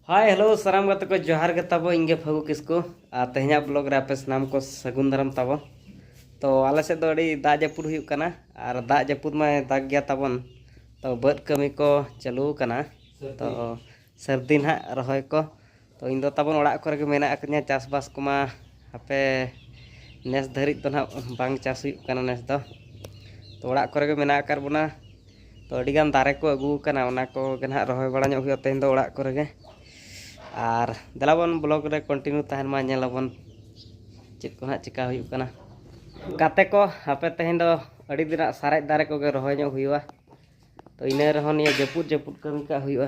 ᱦᱟᱭ hello ᱥᱟᱱᱟᱢ ᱜᱟᱛᱮ ᱠᱚ ᱡᱚᱦᱟᱨ ᱜᱮ ᱛᱟᱵᱚ ᱤᱧ ᱜᱮ ᱯᱷᱟᱹᱜᱩ ᱠᱤᱥᱠᱩ ᱟᱨ ᱛᱮᱦᱮᱧᱟᱜ ᱵᱞᱚᱜ ᱨᱮ ᱟᱯᱮ ᱥᱟᱱᱟᱢ ᱠᱚ ᱥᱟᱹᱜᱩᱱ ᱫᱟᱨᱟᱢ ᱛᱟᱵᱚ ᱛᱚ ᱟᱞᱮ ᱥᱮᱫ ᱫᱚ ᱟᱹᱰᱤ ᱫᱟᱜ ᱡᱟᱹᱯᱩᱫ ᱦᱩᱭᱩᱜ ᱠᱟᱱᱟ ᱟᱨ ᱫᱟᱜ ᱡᱟᱹᱯᱩᱫ ᱢᱟᱭ ᱫᱟᱜ ᱜᱮᱭᱟ ᱛᱟᱵᱚᱱ ᱛᱚ ᱵᱟᱹᱫᱽ ᱠᱟᱹᱢᱤ ᱠᱚ ᱪᱟᱹᱞᱩ ᱟᱠᱟᱱᱟ ᱛᱚ ᱥᱟᱹᱨᱫᱤ ᱱᱟᱦᱟᱜ ᱨᱚᱦᱚᱭ ᱠᱚ ᱛᱚ ᱤᱧ ᱫᱚ ᱛᱟᱵᱚᱱ ᱚᱲᱟᱜ ᱠᱚᱨᱮ ᱜᱮ ᱢᱮᱱᱟᱜ ᱟᱠᱟᱫᱤᱧᱟ ᱪᱟᱥᱵᱟᱥ ᱠᱚᱢᱟ ᱦᱟᱯᱮ ᱱᱮᱥ ᱫᱷᱟᱹᱨᱤᱡ ᱫᱚ ᱱᱟᱦᱟᱜ ᱵᱟᱝ ᱪᱟᱥ ᱦᱩᱭᱩᱜ ᱠᱟᱱᱟ ᱱᱮᱥ ᱫᱚ ᱛᱚ ᱚᱲᱟᱜ ᱠᱚᱨᱮ ᱜᱮ ᱢᱮᱱᱟᱜ ᱟᱠᱟᱫ ᱵᱚᱱᱟ ᱛᱚ ᱟᱹᱰᱤ ᱜᱟᱱ ᱫᱟᱨᱮ ᱠᱚ ᱟᱹᱜᱩ ᱟᱠᱟᱱᱟ ᱚᱱᱟ ᱠᱚᱜᱮ ᱱᱟᱦᱟᱜ ᱨᱚᱦᱚᱭ ᱵᱟᱲᱟ ᱧᱚᱜ ᱦᱩᱭᱩᱜᱼᱟ ᱛᱮᱦᱮᱧ ᱫᱚ ᱚᱲᱟᱜ ᱠᱚᱨᱮ ᱜᱮ ᱟᱨ ᱫᱮᱞᱟ ᱵᱚᱱ ᱵᱞᱚᱜᱽ ᱨᱮ ᱠᱚᱱᱴᱤᱱᱤᱭᱩ ᱛᱟᱦᱮᱱ ᱢᱟ ᱧᱮᱞ ᱟᱵᱚᱱ ᱪᱮᱫ ᱠᱚ ᱱᱟᱦᱟᱜ ᱪᱤᱠᱟ ᱦᱩᱭᱩᱜ ᱠᱟᱱᱟ ᱜᱟᱛᱮ ᱠᱚ ᱦᱟᱯᱮ ᱛᱮᱦᱮᱧ ᱫᱚ ᱟᱹᱰᱤ ᱫᱤᱱᱟᱜ ᱥᱟᱨᱮᱡ ᱫᱟᱨᱮ ᱠᱚᱜᱮ ᱨᱚᱦᱚᱭ ᱧᱚᱜ ᱦᱩᱭᱩᱜᱼᱟ ᱛᱚ ᱤᱱᱟᱹ ᱨᱮᱦᱚᱸ ᱱᱤᱭᱟᱹ ᱡᱟᱹᱯᱩᱫ ᱡᱟᱹᱯᱩᱫ ᱠᱟᱹᱢᱤ ᱠᱟᱜ ᱦᱩᱭᱩᱜᱼᱟ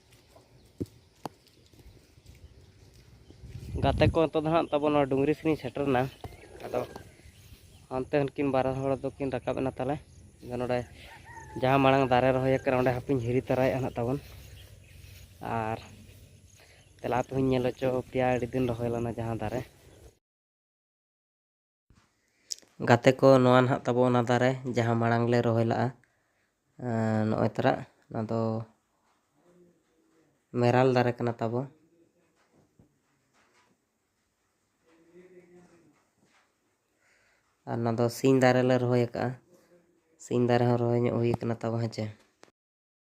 ᱜᱟᱛᱮ ᱠᱚ ᱱᱤᱛᱚᱜ ᱫᱚ ᱦᱟᱸᱜ ᱛᱟᱵᱚ ᱱᱚᱣᱟ ᱰᱩᱝᱨᱤ ᱥᱮᱱᱤᱧ ᱥᱮᱴᱮᱨᱱᱟ ᱟᱫᱚ ᱦᱟᱱᱛᱮ ᱩᱱᱠᱤᱱ ᱵᱟᱨ ᱦᱚᱲ ᱫᱚᱠᱤᱱ ᱨᱟᱠᱟᱵ ᱮᱱᱟ ᱛᱟᱦᱚᱞᱮ ᱟᱫᱚ ᱱᱚᱰᱮ ᱡᱟᱦᱟᱸ ᱢᱟᱲᱟᱝ ᱫᱟᱨᱮ ᱨᱚᱦᱚᱭ ᱟᱠᱟᱱᱟ ᱚᱸᱰᱮ ᱦᱟᱯᱮᱧ ᱦᱤᱨᱤ ᱛᱟᱨᱟᱭᱮᱫᱼᱟ ᱦᱟᱸᱜ ᱛᱟᱵᱚᱱ ᱟᱨ ᱛᱮᱞᱟ ᱛᱮᱦᱚᱧ ᱧᱮᱞ ᱦᱚᱪᱚ ᱯᱮᱭᱟ ᱟᱹᱰᱤ ᱫᱤᱱ ᱨᱚᱦᱚᱭ ᱞᱮᱱᱟ ᱡᱟᱦᱟᱸ ᱫᱟᱨᱮ ᱜᱟᱛᱮ ᱠᱚ ᱱᱚᱣᱟ ᱱᱟᱦᱟᱜ ᱛᱟᱵᱚ ᱚᱱᱟ ᱫᱟᱨᱮ ᱡᱟᱦᱟᱸ ᱢᱟᱲᱟᱝ ᱞᱮ ᱨᱚᱦᱚᱭ ᱞᱟᱜᱼᱟ ᱱᱚᱜᱼᱚᱭ ᱛᱟᱨᱟᱜ ᱚᱱᱟ ᱫᱚ ᱢᱮᱨᱟᱞ ᱫᱟᱨᱮ ᱠᱟᱱᱟ ᱛᱟᱵᱚ ᱟᱨ ᱚᱱᱟ ᱫᱚ ᱥᱤᱧ ᱫᱟᱨᱮ ᱞᱮ ᱨᱚᱦᱚᱭ ᱟᱠᱟᱫᱼᱟ ᱥᱤᱧ ᱫᱟᱨᱮ ᱦᱚᱸ ᱨᱚᱦᱚᱭ ᱧᱚᱜ ᱦᱩᱭ ᱟᱠᱟᱱᱟ ᱛᱟᱵᱚ ᱦᱮᱸ ᱪᱮ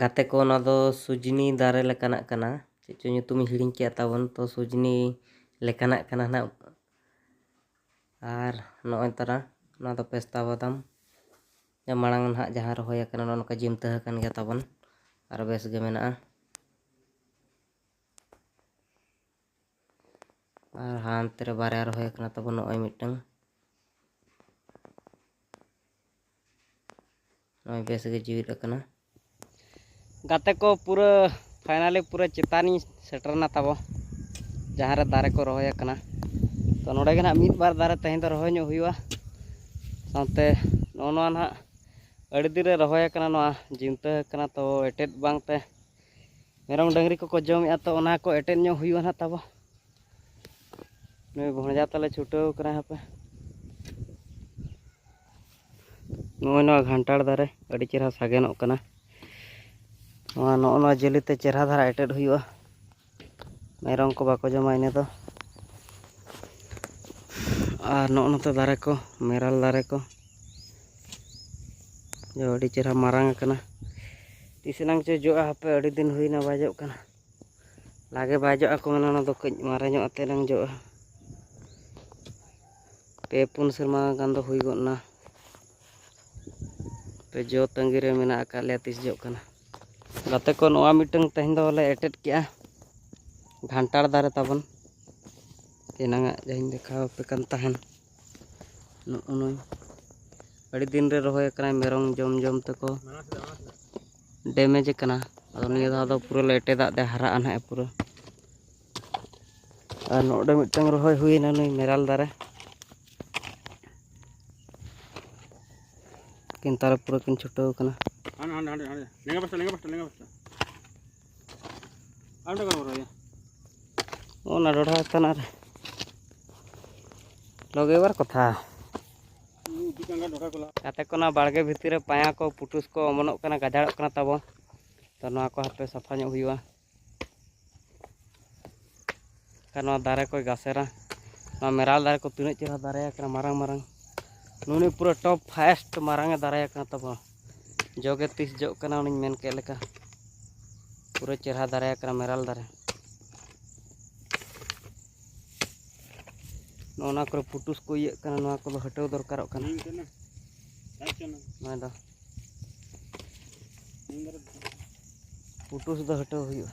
ᱜᱟᱛᱮ ᱠᱚ ᱚᱱᱟ ᱫᱚ ᱥᱩᱡᱽᱱᱤ ᱫᱟᱨᱮ ᱞᱮᱠᱟᱱᱟᱜ ᱠᱟᱱᱟ ᱪᱮᱫ ᱪᱚ ᱧᱩᱛᱩᱢᱤᱧ ᱦᱤᱲᱤᱧ ᱠᱮᱫᱼᱟ ᱛᱟᱵᱚᱱ ᱛᱚ ᱥᱩᱡᱽᱱᱤ ᱞᱮᱠᱟᱱᱟᱜ ᱠᱟᱱᱟ ᱱᱟᱜ ᱟᱨ ᱱᱚᱜᱼᱚᱭ ᱛᱟᱨᱟ ᱱᱚᱣᱟ ᱫᱚ ᱯᱮᱥᱛᱟ ᱵᱟᱫᱟᱢ ᱢᱟᱲᱟᱝ ᱱᱟᱦᱟᱜ ᱡᱟᱦᱟᱸ ᱨᱚᱦᱚᱭ ᱟᱠᱟᱱᱟ ᱱᱚᱜᱼᱚ ᱱᱚᱝᱠᱟ ᱡᱤᱢᱛᱟᱹ ᱟᱠᱟᱱ ᱜᱮᱭᱟ ᱛᱟᱵᱚᱱ ᱟᱨ ᱵᱮᱥ ᱜᱮ ᱢᱮᱱᱟᱜᱼᱟ ᱟᱨ ᱦᱟᱱᱛᱮ ᱨᱮ ᱵᱟᱨᱭᱟ ᱨᱚᱦᱚᱭ ᱠᱟᱱᱟ ᱛᱟᱵᱚ ᱱᱚᱜᱼᱚᱭ ᱢᱤᱫᱴᱟᱝ ᱱᱚᱜᱼᱚᱭ ᱵᱮᱥ ᱜᱮ ᱡᱤᱣᱤᱫ ᱟᱠᱟᱱᱟ ᱜᱟᱛᱮ ᱠᱚ ᱯᱩᱨᱟᱹ ᱯᱷᱟᱭᱱᱟᱞᱤ ᱯᱩᱨᱟᱹ ᱪᱮᱛᱟᱱᱤᱧ ᱥᱮᱴᱮᱨᱱᱟ ᱛᱟᱵᱚ ᱡᱟᱦᱟᱸ ᱨᱮ ᱫᱟᱨᱮ ᱠᱚ ᱨᱚᱦᱚᱭ ᱟᱠᱟᱱᱟ ᱛᱚ ᱱᱚᱰᱮ ᱜᱮ ᱱᱟᱦᱟᱜ ᱢᱤᱫ ᱵᱟᱨ ᱫᱟᱨᱮ ᱛᱮᱦᱮᱧ ᱫᱚ ᱨᱚᱦᱚᱭ ᱧᱚᱜ ᱦᱩᱭᱩᱜᱼᱟ ᱥᱟᱶᱛᱮ ᱱᱚᱜᱼᱚ ᱱᱚᱣᱟ ᱱᱟᱦᱟᱜ ᱟᱹᱰᱤ ᱫᱤᱱ ᱨᱮ ᱨᱚᱦᱚᱭ ᱟᱠᱟᱱᱟ ᱱᱚᱣᱟ ᱡᱤᱱᱛᱟᱹ ᱟᱠᱟᱱᱟ ᱛᱚ ᱮᱴᱮᱫ ᱵᱟᱝᱛᱮ ᱢᱮᱨᱚᱢ ᱰᱟᱹᱝᱨᱤ ᱠᱚᱠᱚ ᱡᱚᱢᱮᱫᱼᱟ ᱛᱚ ᱚᱱᱟ ᱠᱚ ᱮᱴᱮᱫ ᱧᱚᱜ ᱦᱩᱭᱩᱜᱼᱟ ᱱᱟᱦᱟᱜ ᱛᱟᱵᱚ ᱱᱩᱭ ᱵᱷᱚᱸᱡᱟ ᱛᱟᱞᱮ ᱪᱷᱩᱴᱟᱹᱣ ᱠᱟᱱᱟ ᱦᱟᱯᱮ ᱱᱚᱜᱼᱚᱭ ᱱᱚᱣᱟ ᱜᱷᱟᱱᱴᱟᱲ ᱫᱟᱨᱮ ᱟᱹᱰᱤ ᱪᱮᱦᱨᱟ ᱥᱟᱜᱮᱱᱚᱜ ᱠᱟᱱᱟ ᱱᱚᱣᱟ ᱱᱚᱜᱼᱚ ᱱᱚᱣᱟ ᱡᱟᱹᱞᱤᱛᱮ ᱪᱮᱦᱨᱟ ᱫᱷᱟᱨᱟ ᱮᱴᱮᱫ ᱦᱩᱭᱩᱜᱼᱟ ᱢᱮᱨᱚᱢ ᱠᱚ ᱵᱟᱠᱚ ᱡᱚᱢᱟ ᱤᱱᱟᱹ ᱫᱚ ᱟᱨ ᱱᱚᱜᱼᱚ ᱱᱚᱛᱮ ᱫᱟᱨᱮ ᱠᱚ ᱢᱮᱨᱟᱞ ᱫᱟᱨᱮ ᱠᱚ ᱟᱹᱰᱤ ᱪᱮᱦᱨᱟ ᱢᱟᱨᱟᱝ ᱟᱠᱟᱱᱟ ᱛᱤᱥ ᱮᱱᱟᱝ ᱪᱚ ᱡᱚᱜᱼᱟ ᱦᱟᱯᱮ ᱟᱹᱰᱤ ᱫᱤᱱ ᱦᱩᱭᱱᱟ ᱵᱟᱭ ᱡᱚᱜ ᱠᱟᱱᱟ ᱞᱟᱜᱮ ᱵᱟᱭ ᱡᱚᱜᱼᱟ ᱠᱚ ᱢᱮᱱᱟ ᱚᱱᱟ ᱫᱚ ᱠᱟᱹᱡ ᱢᱟᱨᱮ ᱧᱚᱜ ᱟᱛᱮ ᱮᱱᱟᱝ ᱡᱚᱜᱼᱟ ᱯᱮ ᱯᱩᱱ ᱥᱮᱨᱢᱟ ᱜᱟᱱ ᱫᱚ ᱦᱩᱭ ᱜᱚᱫ ᱮᱱᱟ ᱯᱮ ᱡᱚ ᱛᱟᱺᱜᱤ ᱨᱮ ᱢᱮᱱᱟᱜ ᱟᱠᱟᱫ ᱞᱮᱭᱟ ᱛᱤᱥ ᱡᱚᱜ ᱠᱟᱱᱟ ᱜᱟᱛᱮ ᱠᱚ ᱱᱚᱣᱟ ᱢᱤᱫᱴᱟᱝ ᱛᱮᱦᱮᱧ ᱫᱚᱞᱮ ᱮᱴᱮᱫ ᱠᱮᱜᱼᱟ ᱜᱷᱟᱱᱴᱟᱲ ᱫᱟᱨᱮ ᱛᱟᱵᱚᱱ ᱮᱱᱟᱝᱟᱜ ᱡᱟᱦᱟᱸᱧ ᱫᱮᱠᱷᱟᱣ ᱟᱯᱮ ᱠᱟᱱ ᱛᱟᱦᱮᱱ ᱱᱚᱜᱼᱚ ᱱᱩᱭ ᱟᱹᱰᱤ ᱫᱤᱱ ᱨᱮ ᱨᱚᱦᱚᱭ ᱟᱠᱟᱱᱟᱭ ᱢᱮᱨᱚᱢ ᱡᱚᱢ ᱡᱚᱢ ᱛᱮᱠᱚ ᱰᱮᱢᱮᱡᱽ ᱟᱠᱟᱱᱟ ᱟᱫᱚ ᱱᱤᱭᱟᱹ ᱫᱷᱟᱣ ᱫᱚ ᱯᱩᱨᱟᱹ ᱞᱮᱴᱮ ᱫᱟᱜ ᱛᱮ ᱦᱟᱨᱟᱜᱼᱟ ᱱᱟᱦᱟᱜ ᱯᱩᱨᱟᱹ ᱟᱨ ᱱᱚᱰᱮ ᱢᱤᱫᱴᱟᱝ ᱨᱚᱦᱚᱭ ᱦᱩᱭᱮᱱᱟ ᱱᱩᱭ ᱢᱮᱨᱟᱞ ᱫᱟᱨᱮ ᱠᱤᱱ ᱛᱟᱨ ᱯᱩᱨᱟᱹ ᱠᱤᱱ ᱪᱷᱩᱴᱟᱹᱣ ᱟᱠᱟᱱᱟ ᱚᱱᱟ ᱰᱚᱰᱷᱟ ᱦᱟᱛᱟᱱ ᱟᱨ ᱞᱚᱜᱮᱵᱟᱨ ᱠᱚᱛᱷᱟ ᱜᱟᱛᱮ ᱠᱚ ᱱᱚᱣᱟ ᱵᱟᱲᱜᱮ ᱵᱷᱤᱛᱤᱨ ᱨᱮ ᱯᱟᱭᱟ ᱠᱚ ᱯᱩᱴᱩᱥ ᱠᱚ ᱚᱢᱚᱱᱚᱜ ᱠᱟᱱᱟ ᱜᱟᱡᱟᱲᱚᱜ ᱠᱟᱱᱟ ᱛᱟᱵᱚ ᱛᱚ ᱱᱚᱣᱟ ᱠᱚ ᱦᱟᱯᱮ ᱥᱟᱯᱷᱟ ᱧᱚᱜ ᱦᱩᱭᱩᱜᱼᱟ ᱱᱚᱣᱟ ᱫᱟᱨᱮ ᱠᱚᱭ ᱜᱟᱥᱮᱨᱟ ᱱᱚᱣᱟ ᱢᱮᱨᱟᱞ ᱫᱟᱨᱮ ᱠᱚ ᱛᱤᱱᱟᱹᱜ ᱪᱮᱦᱨᱟ ᱫᱟᱨᱮ ᱟᱠᱟᱱᱟ ᱢᱟᱨᱟᱝ ᱢᱟᱨᱟᱝ ᱱᱩᱱᱤ ᱯᱩᱨᱟᱹ ᱴᱚᱯ ᱯᱷᱟᱭᱮᱥᱴ ᱢᱟᱨᱟᱝ ᱮ ᱫᱟᱨᱮ ᱟᱠᱟᱱᱟ ᱛᱟᱵᱚᱱ ᱡᱚᱜᱮ ᱛᱤᱥ ᱡᱚᱜ ᱠᱟᱱᱟ ᱩᱱᱤᱧ ᱢᱮᱱ ᱠᱮᱫ ᱞᱮᱠᱟ ᱯᱩᱨᱟᱹ ᱪᱮᱦᱨᱟ ᱫᱟᱨᱮ ᱟᱠᱟᱱᱟ ᱢᱮᱨᱟᱞ ᱫᱟᱨᱮ ᱱᱚᱜᱼᱚ ᱱᱚᱣᱟ ᱠᱚᱨᱮ ᱯᱩᱴᱩᱥ ᱠᱚ ᱤᱭᱟᱹᱜ ᱠᱟᱱᱟ ᱱᱚᱣᱟ ᱠᱚᱫᱚ ᱦᱟᱹᱴᱟᱹᱣ ᱫᱚᱨᱠᱟᱨᱚᱜ ᱠᱟᱱᱟ ᱱᱚᱣᱟ ᱫᱚ ᱯᱩᱴᱩᱥ ᱫᱚ ᱦᱟᱹᱴᱟᱹᱣ ᱦᱩᱭᱩᱜᱼᱟ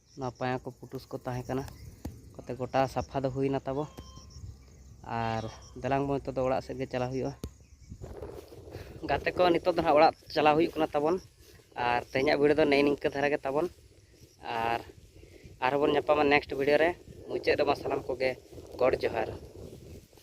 ᱱᱚᱣᱟ ᱯᱟᱭᱟ ᱠᱚ ᱯᱩᱴᱩᱥ ᱠᱚ ᱛᱟᱦᱮᱸ ᱠᱟᱱᱟ ᱠᱟᱛᱮ ᱜᱚᱴᱟ ᱥᱟᱯᱷᱟ ᱫᱚ ᱦᱩᱭᱱᱟ ᱛᱟᱵᱚ ᱟᱨ ᱫᱮᱞᱟᱝ ᱵᱚᱱ ᱱᱤᱛᱚᱜ ᱫᱚ ᱚᱲᱟᱜ ᱥᱮᱫ ᱜᱮ ᱪᱟᱞᱟᱣ ᱦᱩᱭᱩᱜᱼᱟ ᱜᱟᱛᱮ ᱠᱚ ᱱᱤᱛᱚᱜ ᱫᱚ ᱦᱟᱸᱜ ᱚᱲᱟᱜ ᱪᱟᱞᱟᱣ ᱦᱩᱭᱩᱜ ᱠᱟᱱᱟ ᱛᱟᱵᱚᱱ ᱟᱨ ᱛᱮᱦᱮᱧᱟᱜ ᱵᱷᱤᱰᱤᱭᱳ ᱫᱚ ᱱᱮᱜᱼᱮ ᱱᱤᱝᱠᱟᱹ ᱫᱷᱟᱨᱟ ᱜᱮ ᱛᱟᱵᱚᱱ ᱟᱨ ᱟᱨᱦᱚᱸ ᱵᱚᱱ ᱧᱟᱯᱟᱢᱟ ᱱᱮᱠᱥᱴ ᱵᱷᱤᱰᱤᱭᱳ ᱨᱮ ᱢᱩᱪᱟᱹᱫ ᱨᱮᱢᱟ ᱥᱟᱱᱟᱢ ᱠᱚᱜᱮ ᱜᱚᱰ ᱡᱚᱦᱟᱨ